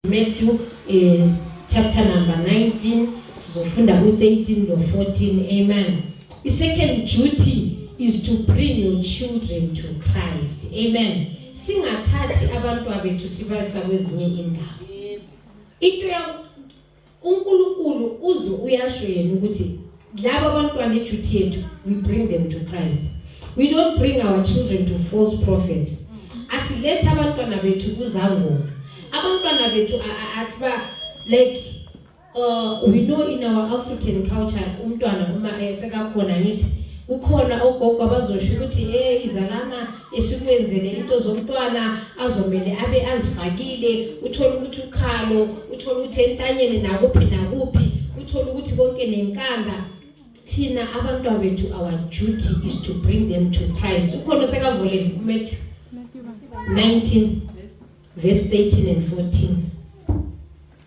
Matthew eh, chapter number 19 sizofunda ku-13 no-14 amen i-second duty is to bring your children to christ amen singathathi abantwa bethu sibayisa kwezinye indawo into uNkulunkulu uze uyasho yena ukuthi laba abantwana iduty yethu we bring them to Christ we don't bring our children to false prophets asilethe abantwana bethu kuzangoma abantwana bethu asiba like uh, we know in our African culture umntwana uma esekakhona ngithi kukhona ogogo abazosho ukuthi eh izalana esikwenzele into zomntwana azomele abe azifakile uthole ukuthi ukhalo uthole ukuthi entanyeni nakuphi nakuphi uthole ukuthi konke nenkanda thina abantwana bethu our duty is to bring them to christ ukhona osekavulele umatthew 19 verse 13 and 14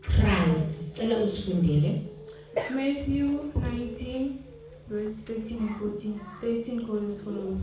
Christ sicela usifundele Matthew 19 verse 13 and 14 13 goes as follows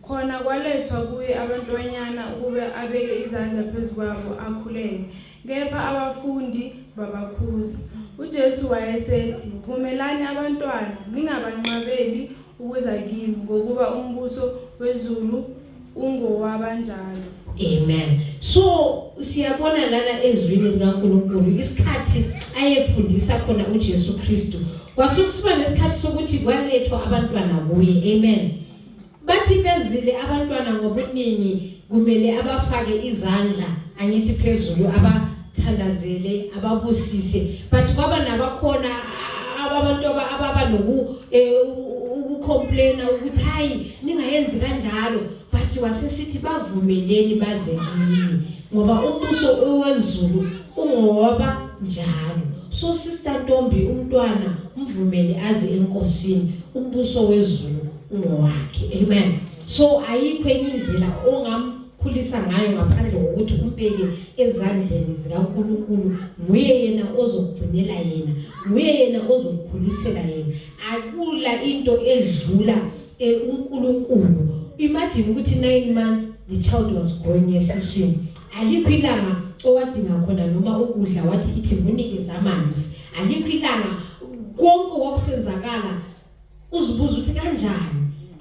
khona kwalethwa kuye abantwanyana ukuba abeke izandla phezu kwabo akhuleke kepha abafundi babakhuza ujesu wayesethi vumelani abantwana ningabanqabeli ukuza kimi ngokuba umbuso wezulu ungowabanjalo amen so siyabona lana ezwini likaNkuluNkulu isikhathi ayefundisa khona uJesu Kristu kwasukusiba nesikhathi sokuthi kwalethwa abantwana kuye amen bathi bezile abantwana ngobuningi kumele abafake izandla angithi phezulu aba thandazele ababusise but kwaba nabakhona abantu ababa noku eh, ukucomplaina ukuthi hayi ningayenzi kanjalo but wasesithi bavumeleni baze kimi ngoba umbuso owezulu ungoba njalo so sister Ntombi umntwana umvumele aze enkosini umbuso wezulu ungowakhe amen so ayikho enye indlela ongam khulisa ngayo ngaphandle kokuthi umbeke ezandleni zikaNkulunkulu nguye yena ozokugcinela yena nguye yena ozokukhulisela yena akula into edlula eh, uNkulunkulu imagine ukuthi 9 months the child was growing esiswini alikho ilanga owadinga khona noma ukudla wathi ithi munikeza amanzi alikho ilanga konke wakusenzakala uzibuza ukuthi kanjani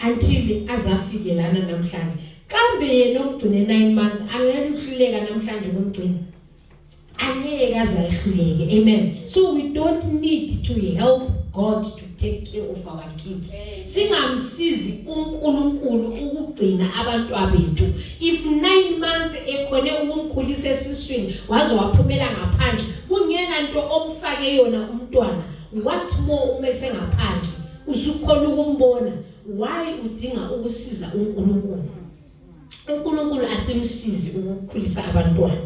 until azafike lana namhlanje kambe yena ogcine 9 months angehluleka namhlanje kumgcina angeke azahluleke amen so we don't need to help God to take care of our kids singamsizi uNkulunkulu ukugcina abantwa bethu if 9 months ekhone ukumkhulisa esiswini waze waphumela ngaphandle kungena into omfake yona umntwana what more uma esengaphandle usukhona ukumbona why udinga ukusiza uNkulunkulu uNkulunkulu asimsizi ukukhulisa abantwana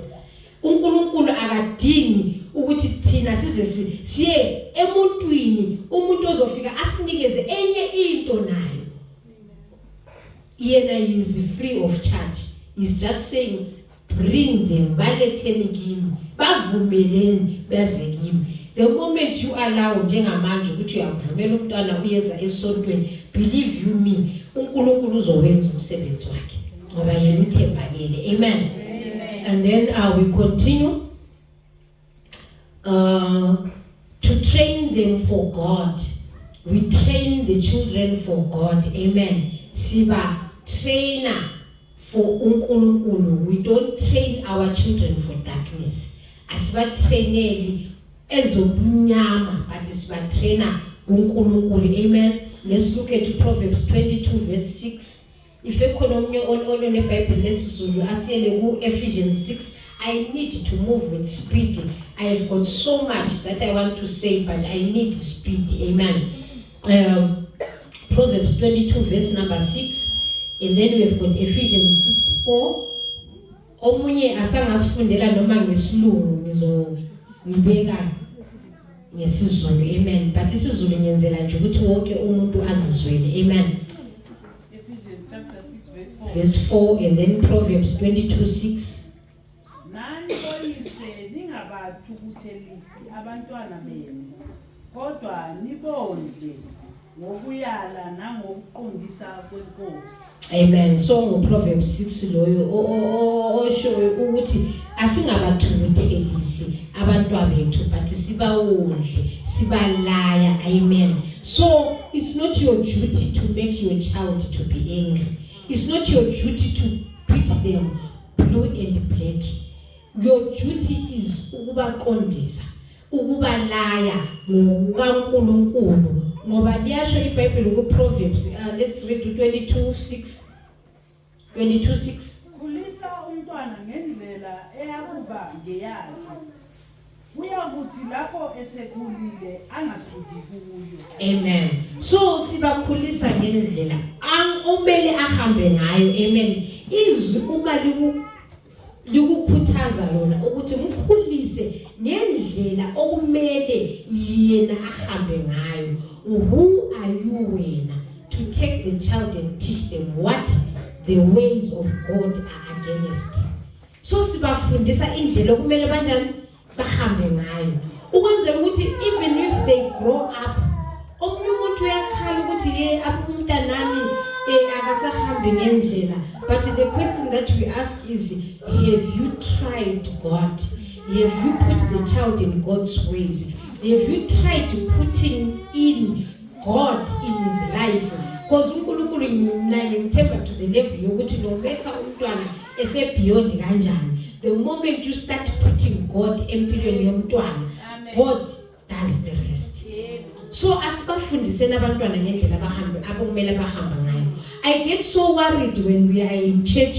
uNkulunkulu akadingi ukuthi thina size siye emuntwini umuntu ozofika asinikeze enye into nayo yena is free of charge is just saying bring them baletheni kimi bavumeleni beze kimi the moment you allow njengamanje ukuthi uyamvumela umntwana uyeza esontweni believe you me uNkulunkulu uzowenza umsebenzi wakhe ngoba yena uthembakele amen and then uh, we continue uh, to train them for God we train the children for God amen siba trainer for uNkulunkulu we don't train our children for darkness asibatraineli ezobunyama but sibatrainer kuNkulunkulu amen let's look at proverbs 22 verse 6 If ekhona omunye ololo neBhayibheli lesiZulu asiyele ku-Ephesians 6 I need to move with speed. I have got so much that I want to say but I need speed. Amen. Um, Proverbs 22 verse number 6 and then we have got Ephesians 6 4 Omunye asangasifundela noma ngesilungu ngizongibeka ngesizulu amen but isizulu ngiyenzela nje ukuthi wonke umuntu azizwele amen verse 4 and then proverbs 22 6 nani oyise ningabathukuthelisi abantwana benu kodwa nibondle ngokuyala nangokuqondisa kwenkosi amen so nguproverbs 6 loyo oshoyo ukuthi asingabathukuthelisi abantwabethu but sibawondle sibalaya amen so it's not your duty to make your child to be angry it's not your duty to beat them blue and black your duty is ukubaqondisa ukubalaya ngokukaNkulunkulu ngoba liyasho iBhayibheli kuProverbs uh, let's read 22:6 22:6 Khulisa umntwana ngendlela eyakuba ngeyakhe uyakuthi lapho esekhulile angasuki kuyo amen so sibakhulisa ngendlela umele ahambe ngayo amen izwi uma liku likukhuthaza lona ukuthi mkhulise ngendlela okumele yena ahambe ngayo who are you wena to take the child and teach them what the ways of God are against so sibafundisa indlela okumele banjani bahambe ngayo ukwenzela ukuthi even if they grow up omunye umuntu uyakhala ukuthi ye umntanami eh, akasahambi ngendlela but the question that we ask is have you tried god have you put the child in god's ways have you tried to putting in God in his life because uNkulunkulu mina ngimthemba to the level yokuthi no matter umntwana ese beyond kanjani the moment you start putting God empilweni yomntwana God does the rest so asibafundiseni abantwana ngendlela abahambe abakumele bahamba ngayo i get so worried when we are in church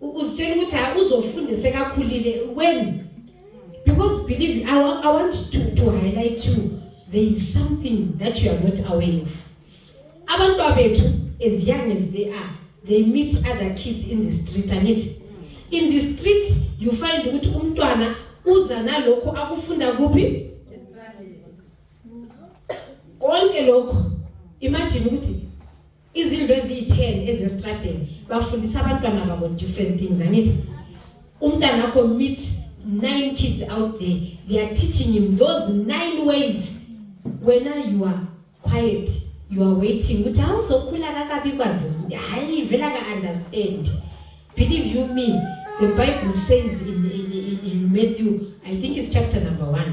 uzitshela ukuthi hayi uzofunda sekakhulile when because believe I, wa, I want to, to highlight you there is something that you are not aware of abantu abethu as young as they are they meet other kids in the street angithi in the street you find ukuthi umntwana uza nalokho akufunda kuphi konke lokho imagine ukuthi izindlu eziyi-10 ezestradeni bafundisa abantwana babo different things angithi umntana wakho meets nine kids out there they are teaching him those nine ways wena you are quiet you are waiting ukuthi awuzokhula kakabi kwazi hayi vela ka-understand believe you me the bible says in, in, in, in matthew i think it's chapter number one